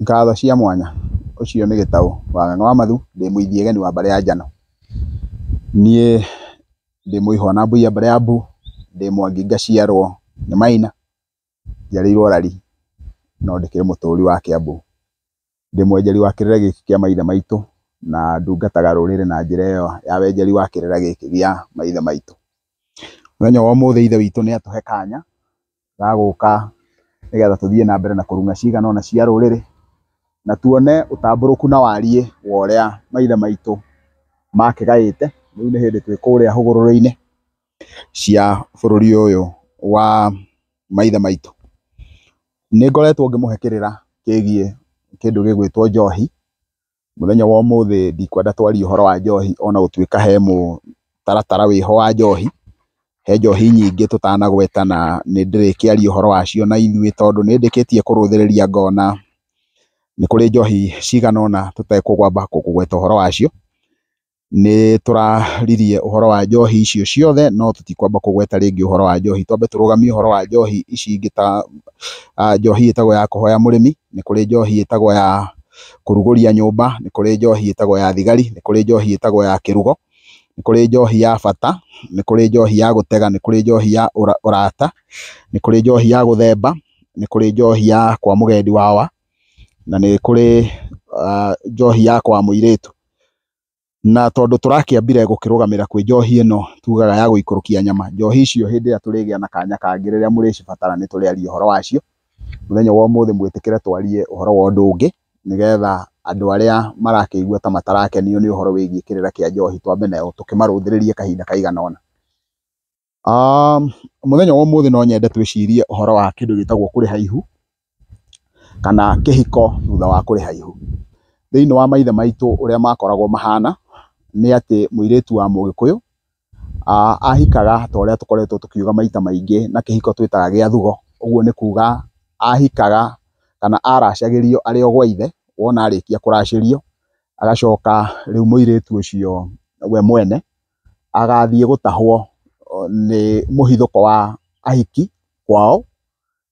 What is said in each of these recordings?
Ngatho cia mwanya. Ũcio nĩ Gĩtaũ wa Ng'ang'a wa Mathu, ndĩ mũithiageni wa mbarĩ ya Njano. Niĩ ndĩ Mũihwa wa Nambia mbarĩ ya Mbu, ndĩ Mwangi ngaciarwo nĩ Maina. njiarĩirwo Rari no ndĩkĩrĩ mũtũri wa Kĩambu. Ndĩ mwenjeri wa kĩrĩra gĩkĩ kĩa maithe maitũ na ndungataga rũrĩrĩ na njĩra ĩyo ya wenjeri wa kĩrĩra gĩkĩ gĩa maithe maitũ. Mũthenya wa ũmũthĩ ithe witũ nĩ atũhe kanya ga gũka nĩ getha tũthiĩ na mbere na kũrung'a cigana ũna cia rũrĩrĩ na tuone ũtambũrũku na wariĩ wa ũrĩa maithe maitũ makĩgaĩte. Rĩu nĩ hĩndĩ twĩ kũrĩa hũgũrũrũ-inĩ cia bũrũri ũyũ wa maithe maitũ. Nĩ ngoretwo ngĩmũhe kĩrĩra kĩgiĩ kĩndũ gĩgwĩtwo njohi, mũthenya wa ũmũthĩ ndikwenda twarie ũhoro wa njohi ona gũtuĩka he mũtaratara wĩho wa njohi, he njohi nyingĩ tũtanagweta na nĩ ndĩrĩkĩaria ũhoro wacio na ithuĩ tondũ nĩ ndĩkĩtie kũrũthĩrĩria ngona nĩ kũrĩ njohi cigana ũna tũtekũgwamba kũgweta ũhoro wacio. nĩ tũraririe ũhoro wa njohi icio ciothe no tũtikwamba kũgweta rĩngĩ ũhoro wa njohi. Twambe tũrũgamie ũhoro wa njohi ici ingĩ ta njohi ĩtagwo ya kũhoya mũrĩmi, nĩ kũrĩ njohi ĩtagwo ya kũrugũria nyũmba, nĩ kũrĩ njohi ĩtagwo ya thigari, nĩ kũrĩ njohi ĩtagwo ya kĩrugo, nĩ kũrĩ njohi ya bata, nĩ kũrĩ njohi ya gũtega, nĩ kũrĩ njohi ya ũrata, nĩ kũrĩ njohi ya gũthemba, nĩ kũrĩ njohi ya kwa mũgendi wawa, na nĩ kũrĩ njohi ya kwa mũirĩtu. Na tondũ tũrakĩambire gũkĩrũgamĩra kwĩ njohi ĩno tugaga ya gũikũrũkia nyama, njohi icio hĩndĩ ĩrĩa tũrĩgĩa na kanya kangĩ rĩrĩa mũrĩcibatara nĩ tũrĩaria ũhoro wacio. Mũthenya wa ũmũthĩ mwĩtĩkĩre twarie ũhoro wa ũndũ ũngĩ nĩgetha andũ arĩa marakĩigua ta matarakenio nĩ ũhoro wĩgiĩ kĩrĩra kĩa njohi twambe nao tũkĩmarũthĩrĩrie kahinda kaigana ũna. Mũthenya wa ũmũthĩ no nyende twĩcirie ũhoro wa kĩndũ gĩtagwo kũrĩha ihu, kana kĩhiko thutha wa kũrĩha ihu. Thĩiniĩ wa maithe maitũ ũrĩa makoragwo mahana, nĩ atĩ mũirĩtu wa mũgĩkũyũ ahikaga ta ũrĩa tũkoretwo tũkiuga maita maingĩ na kĩhiko twĩtaga gĩa thugo, ũguo nĩ kuga ahikaga kana aracagĩrio arĩ o gwa ithe, wona arĩkia kũracĩrio, agacoka rĩu mũirĩtu ũcio we mwene. agathiĩ gũtahwo nĩ mũhithũko wa ahiki kwao,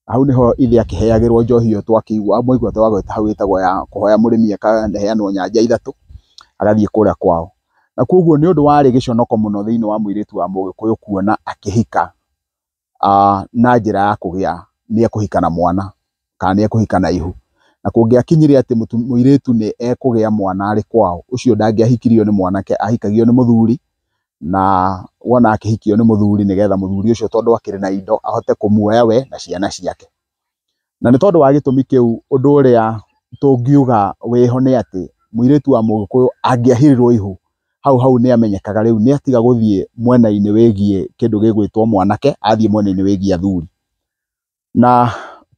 na hau nĩho ithe akĩheagĩrwo njohi ĩyo twakĩigua, mwaigua twagweta hau ĩtagwo ya kũhoya mũrĩmi ĩkaheanwo nyanja ithatũ, agathiĩ kũrĩa kwao. Na kuoguo nĩ ũndũ warĩ gĩconoko mũno thĩiniĩ wa mũirĩtu wa mũgĩkũyũ kuona akĩhika uh, na njĩra ya kũgĩa nĩ ekũhika na mwana kana nĩ ekũhika na ihu na kũngĩakinyire atĩ mũirĩtu nĩ ekũgĩa mwana arĩ kwao ũcio ndangĩahikirio nĩ mwanake ahikagio nĩ mũthuri na wona akĩhikio nĩ mũthuri nĩgetha mũthuri ũcio tondũ akĩrĩ na indo ahote kũmuoya we na ciana ciake. Na nĩ tondũ wa gĩtũmi kĩu ũndũ ũrĩa tũngiuga wĩho nĩ atĩ mũirĩtu wa mũgĩkũyũ angĩahirirwo ihu hau hau nĩ amenyekaga rĩu nĩ atiga gũthiĩ mwena-inĩ wĩgiĩ kĩndũ gĩgwĩtwo mwanake athiĩ mwena-inĩ wĩgiĩ athuri. Na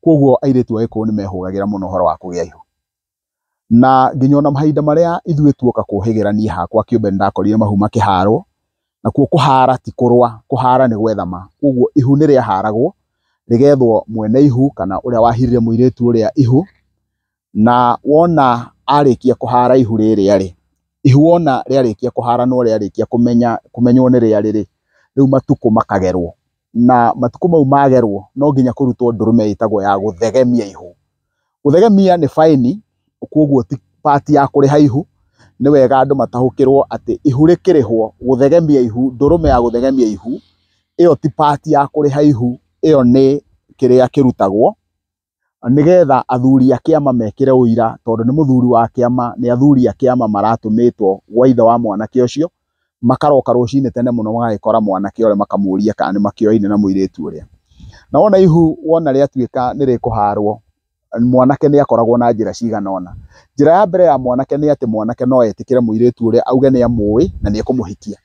kwoguo airĩtu a gĩkũyũ nĩ mehũgagĩra mũno ũhoro wa kũgĩa ihu. Na nginya ona mahinda marĩa ithuĩ tuoka kũhĩgĩra niĩ hakwa kĩũmbe nĩ ndakorire mahu makĩharwo, nakuo kũhara ti kũrũa, kũhara nĩ gwethama. Kwoguo ihu nĩ rĩaharagwo, rĩgethwo mwene ihu kana ũrĩa wahirire mũirĩtu ũrĩa ihu, na wona arĩkia kũhara ihu rĩrĩa rĩ, ihu wona rĩarĩkia kũhara no rĩarĩkia kũmenya, kũmenywo nĩ rĩarĩ rĩ, rĩu matukũ makagerwo. Na matukũ mau magerwo no nginya kũrutwo ndũrũme ĩtagwo ya gũthegemia ihu. Gũthegemia nĩ baĩni kwoguo ti part ya kũrĩha ihu, nĩ wega andũ mataũkĩrwo atĩ ihu rĩkĩrĩhwo, gũthegemia ihu, ndũrũme ya gũthegemia ihu ĩyo ti part ya kũrĩha ihu, ĩyo nĩ kĩrĩa kĩrutagwo nĩgetha athuri a kĩama mekĩre ũira tondũ nĩ mũthuri wa kĩama, nĩ athuri a kĩama maratũmĩtwo gwa ithe wa mwanake ũcio. makaroka rũcinĩ tene mũno magagĩkora mwanake ũrĩa makamũria kana nĩ makĩoaine na mũirĩtu ũrĩa. Na wona ihu wona rĩatuĩka nĩ rĩkũharwo, mwanake nĩ akoragwo na njĩra cigana ũna. Njĩra ya mbere ya mwanake nĩ atĩ mwanake no etĩkĩre mũirĩtu ũrĩa auge nĩ amũĩ na nĩ ekũmũhikia.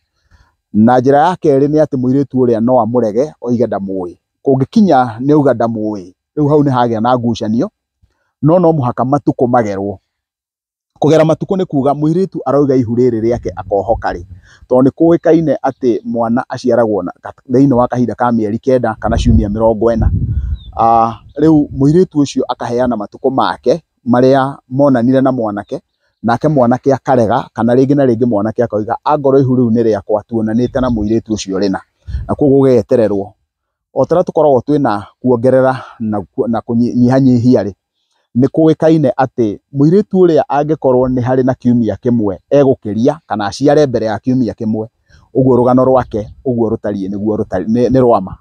Na njĩra ya kerĩ nĩ atĩ mũirĩtu ũrĩa no amũrege oige ndamũĩ. Kũngĩkinya nĩ auga ndamũĩ, rĩu hau nĩ hagĩa na ngucanio, no no mũhaka matukũ magerwo. Kũgera matukũ nĩ kuga mũirĩtu aroiga ihu rĩrĩ rĩake akohoka rĩ, tondũ nĩ kũĩkaine atĩ mwana aciaragwo thĩinĩ wa kahinda ka mĩeri kenda kana ciumia mĩrongo ĩna. Rĩu mũirĩtu ũcio akaheana matukũ make marĩa monanire na mwanake, nake mwanake akarega kana rĩngĩ na rĩngĩ mwanake akoiga angorwo ihu rĩu nĩ rĩakwa tuonanĩte na mũirĩtu ũcio rĩna, na koguo gũgetererwo. o ta ũrĩa tũkoragwo twĩna kuongerera na kũnyihanyihia-rĩ, nĩ kũĩkaine atĩ mũirĩtu ũrĩa angĩkorwo nĩ harĩ na kiumia kĩmwe egũkĩria kana aciare mbere ya kiumia kĩmwe, ũguo rũgano rwake ũguo rũtariĩ nĩguo rũtariĩ nĩ rwa ma.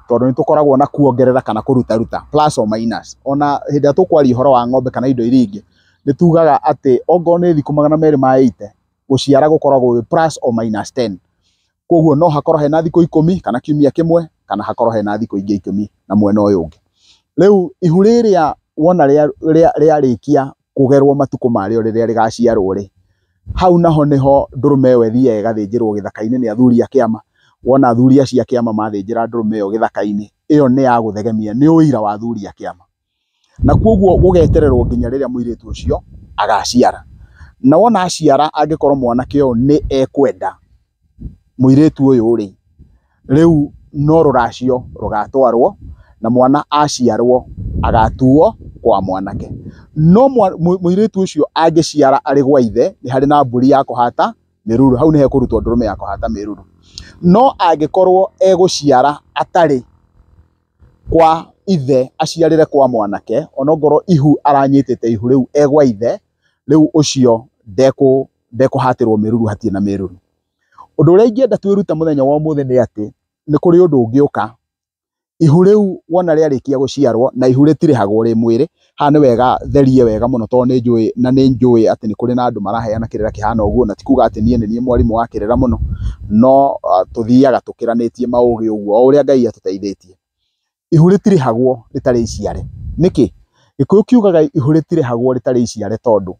Tondũ nĩ tũkoragwo na kuongerera kana kũrutaruta, plus or minus. Ona hĩndĩ ĩrĩa tũkwaria ũhoro wa ng'ombe kana indo iria ingĩ, nĩ tugaga atĩ ongorwo nĩ thikũ magana merĩ ma eighty, gũciara gũkoragwo gwĩ plus or minus ten. Koguo no hakorwo hena thikũ ikũmi kana kiumia kĩmwe kana hakorwo hena thikũ ingĩ ikũmi na mwena ũyũ ũngĩ. Rĩu ihu rĩrĩa wona rĩarĩkia kũgerwo matukũ marĩo rĩrĩa rĩgaciarwo rĩ, hau naho nĩho ndũrũme ĩyo ĩthiaga ĩgathĩnjĩrwo gĩthaka-inĩ nĩ athuri a kĩama. Wona athuri acio a kĩama mathĩnjĩra ndũrũme ĩyo gĩthaka-inĩ, ĩyo nĩ ya gũthegemia, nĩ ũira wa athuri a kĩama. na kwoguo gũgetererwo nginya rĩrĩa mũirĩtu ũcio agaciara. Na wona aciara angĩkorwo mwanake ũyũ nĩ ekwenda mũirĩtu ũyũ-rĩ, rĩu no rũracio rũgatwarwo na mwana aciarwo agatuo kwa mwanake. No mũirĩtu ũcio angĩciara arĩ gwa ithe, nĩ harĩ na mbũri ya kũhata mĩruru, hau nĩ hekũrutwo ndũrũme ya kũhata mĩruru. No angĩkorwo egũciara atarĩ... kwa ithe aciarĩre kwa mwanake onakorwo ihu aranyitĩte ihu rĩu e gwa ithe, rĩu ũcio ndekũhatĩrwo mĩruru hatirĩ na mĩruru. Ũndũ ũrĩa ingĩenda twĩrute mũthenya wa ũmũthĩ nĩ atĩ, nĩ kũrĩ ũndũ ũngĩũka, ihu rĩu wona rĩarĩkia gũciarwo na ihu rĩtirĩhagwo rĩ mwĩrĩ, Haha nĩ wega therie wega mũno tondũ nĩ njũĩ na nĩ njũĩ atĩ nĩ kũrĩ na andũ maraheana kĩrĩra kĩhana ũguo na ti kuga atĩ niĩ nĩ niĩ mwarimũ wa kĩrĩra mũno, no tũthiaga tũkĩranĩtie maũgĩ ũguo o ũrĩa Ngai atũteithĩtie. Ihu rĩtirĩhagwo rĩtarĩ iciare, nĩkĩ? Gĩkũyũ kiugaga ihu rĩtirĩhagwo rĩtarĩ iciare tondũ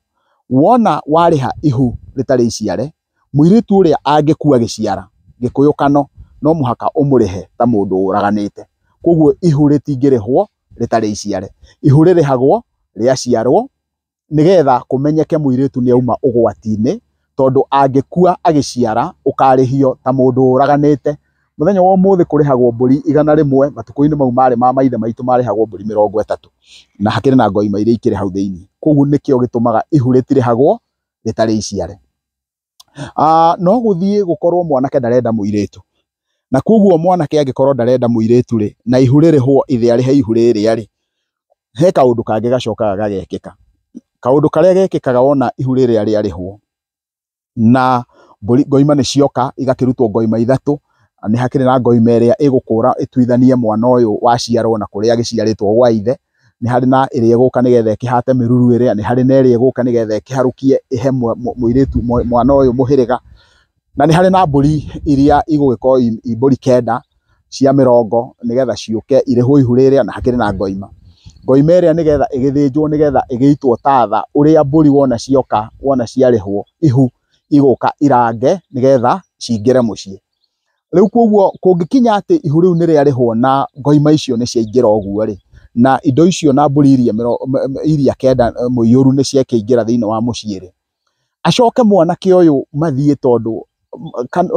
wona warĩha ihu rĩtarĩ iciare, mũirĩtu ũrĩa angĩkua agĩciara, gĩkũyũ kano no mũhaka ũmũrĩhe ta mũndũ ũraganĩte. Koguo ihu rĩtingĩrĩhwo rĩtarĩ iciare. Ihu rĩrĩhagwo rĩaciarwo nĩgetha kũmenyeke mũirĩtu nĩ auma ũgwati-inĩ, tondũ angĩkua agĩciara ũkarĩhio ta mũndũ ũraganĩte. Mũthenya wa ũmũthĩ kũrĩhagwo mbũri igana rĩmwe, matukũ-inĩ mau marĩ ma maithe maitũ marĩhagwo mbũri mĩrongo ĩtatũ, na hakĩrĩ na ngoima iria ikĩrĩ hau thĩiniĩ. Koguo nĩkĩo gĩtũmaga ihu rĩtirĩhagwo rĩtarĩ iciare. Aah no gũthiĩ gũkorwo mwanake ndarenda mũirĩtu, na koguo mwanake angĩkorwo ndarenda mũirĩtu rĩ, na ihu rĩrĩhwo ithĩa rĩhe ihu rĩrĩa rĩ, he kaũndũ kangĩ gacokaga gagekĩka. Kaũndũ karĩa gekĩkaga wona ihu rĩrĩa rĩarĩhwo, na mbũri ngoima nĩ cioka igakĩrutwo ngoima ithatũ, nĩ hakĩrĩ na ngoima ĩrĩa ĩgũkũra ĩtuithanie mwana ũyũ waciarwo na kũrĩa agĩciarĩtwo gwa ithe, nĩ harĩ na ĩrĩa ĩgũka nĩgetha ĩkĩhate mĩruru ĩrĩa, nĩ harĩ na ĩrĩa ĩgũka nĩgetha ĩkĩharũkie ĩhe mũirĩtu mwana ũyũ mũhĩrĩga, na nĩ harĩ na mbũri iria igũgĩkorwo i mbũri kenda cia mĩrongo nĩgetha ciũke irĩhwo ihu rĩrĩa na hakĩrĩ na ngoima. Ngoima ĩrĩa nĩgetha ĩgĩthĩnjwo nĩgetha ĩgĩitwo tatha ũrĩa mbũri wona cioka wona ciarĩhwo ihu igũka irange nĩgetha cingĩre mũciĩ. Rĩu koguo kũngĩkinya atĩ ihu rĩu nĩ rĩarĩhwo na ngoima icio nĩ ciaingĩra ũguo rĩ, na indo icio na mbũri iria iria kenda mũiyũru nĩ ciakĩingĩra thĩinĩ wa mũciĩ rĩ, acoke mwanake ũyũ mathiĩ tondũ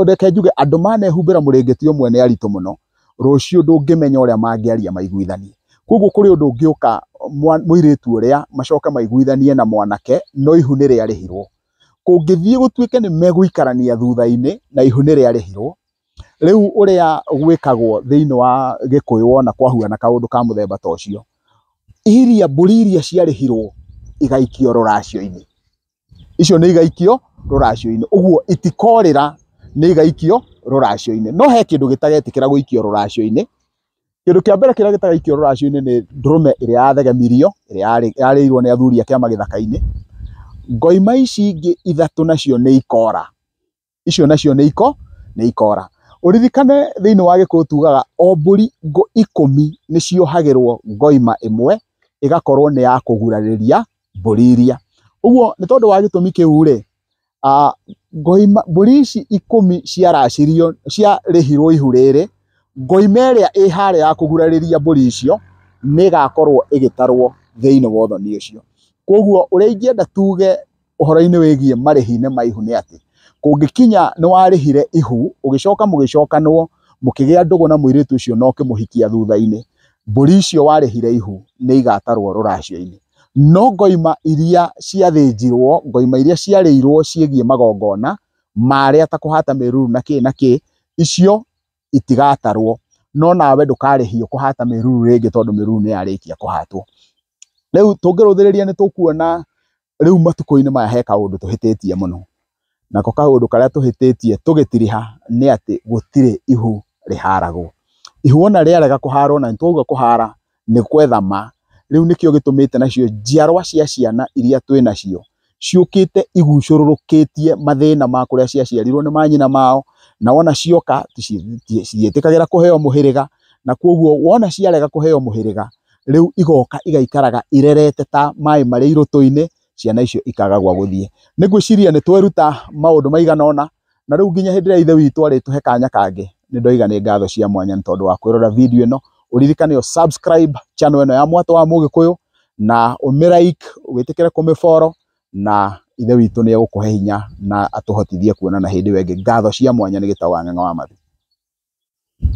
reke njuge andũ manehumbĩra mũrĩngĩti ũmwe nĩ aritũ mũno, rũciũ ndũngĩmenya ũrĩa mangĩaria maiguithanie. Koguo kũrĩ ũndũ ũngĩũka mũirĩtu ũrĩa macoke maiguithanie na mwanake no ihu nĩ rĩarĩhirwo. kũngĩthiĩ gũtuĩke nĩ megũikarania thutha-inĩ na ihu nĩ rĩarĩhirwo, rĩu ũrĩa gwĩkagwo thĩinĩ wa gĩkũyũ wona kwahuana kaũndũ ka mũthemba ta ũcio, iria mbũri iria ciarĩhirwo igaikio rũracio-inĩ, icio nĩ igaikio rũracio-inĩ, ũguo itikorĩra nĩ igaikio rũracio-inĩ, no he kĩndũ gĩtagetĩkĩra gũikio rũracio-inĩ. kĩndũ kĩa mbere kĩrĩa gĩtagaikio rũracio-inĩ nĩ ndũrũme ĩrĩa yathegemirio ĩrĩa yarĩirwo nĩ athuri a kĩama gĩthaka-inĩ. Ngoima ici ingĩ ithatũ nacio nĩ ikora, icio nacio nĩ iko nĩ ikora. Ũririkane thĩiniĩ wa Gĩkũyũ tugaga o mbũri ikũmi nĩ ciohagĩrwo ngoima ĩmwe ĩgakorwo nĩ ya kũgurarĩria mbũri iria. Ũguo nĩ tondũ wa gĩtũmi kĩu rĩ, Mbũri ici ikũmi ciaracĩrio, ciarĩhirwo ihu rĩrĩ, ngoima ĩrĩa ĩ harĩa ya kũgurarĩria mbũri icio nĩ ĩgakorwo ĩgĩtarwo thĩiniĩ wa ũthoni ũcio. Kũoguo ũrĩa ingĩenda tuge ũhoro-inĩ wĩgiĩ marĩhi-inĩ ma ihu nĩ atĩ, kũngĩkinya nĩ warĩhire ihu, ũgĩcoka mũgĩcokanwo, mũkĩgĩa ndũgũ na mũirĩtu ũcio na ũkĩmũhikia thutha-inĩ, mbũri icio warĩhire ihu nĩ igatarwo rũracio-inĩ. No ngoima iria ciathĩnjirwo, ngoima iria ciarĩirwo ciĩgiĩ magongona marĩa ta kũhata mĩruru na kĩĩ na kĩĩ, icio itigatarwo. No nawe ndũkarĩhio kũhata mĩruru rĩngĩ tondũ mĩruru nĩ yarĩkia kũhatwo. Rĩu tũngĩrũthĩrĩria nĩ tũkuona rĩu matukũ-inĩ maya he kaũndũ tũhĩtĩtie mũno, nako kaũndũ karĩa tũhĩtĩtie tũgĩtiriha nĩ atĩ gũtirĩ ihu rĩharagwo. Ihu wona rĩarega kũharwo na nĩtwauga kũhara nĩ gwetha ma, rĩu nĩkĩo gĩtũmĩte nacio njiarwa cia ciana iria twĩnacio ciũkĩte igucũrũrũkĩtie mathĩna ma kũrĩa ciaciarirwo nĩ manyina mao, na wona cioka citiĩtĩkagĩra kũheo mũhĩrĩga, na kuoguo wona ciarega kũheo mũhĩrĩga rĩu igoka igaikaraga irerete ta maĩ marĩ irũtũ-inĩ, ciana icio ikaga gwa gũthiĩ. Nĩ ngwĩciria nĩ tweruta maũndũ maigana ũna, na rĩu nginya hĩndĩ ĩrĩa Ithe witũ arĩtũhe kanya kangĩ, nĩ ndoiga nĩ ngatho cia mwanya nĩ tondũ wa kwĩrorera video ĩno. Ũririkane ũ subscribe channel ĩno ya Mwatũ wa Mũgĩkũyũ, na ũmĩ like, wĩtĩkĩre kũmĩ follow, na Ithe witũ nĩ egũkũhe hinya na atũhotithie kuonana hĩndĩ ĩyo ĩngĩ. Ngatho cia mwanya nĩ gĩtaũ Ang'eng'a wa Mathi.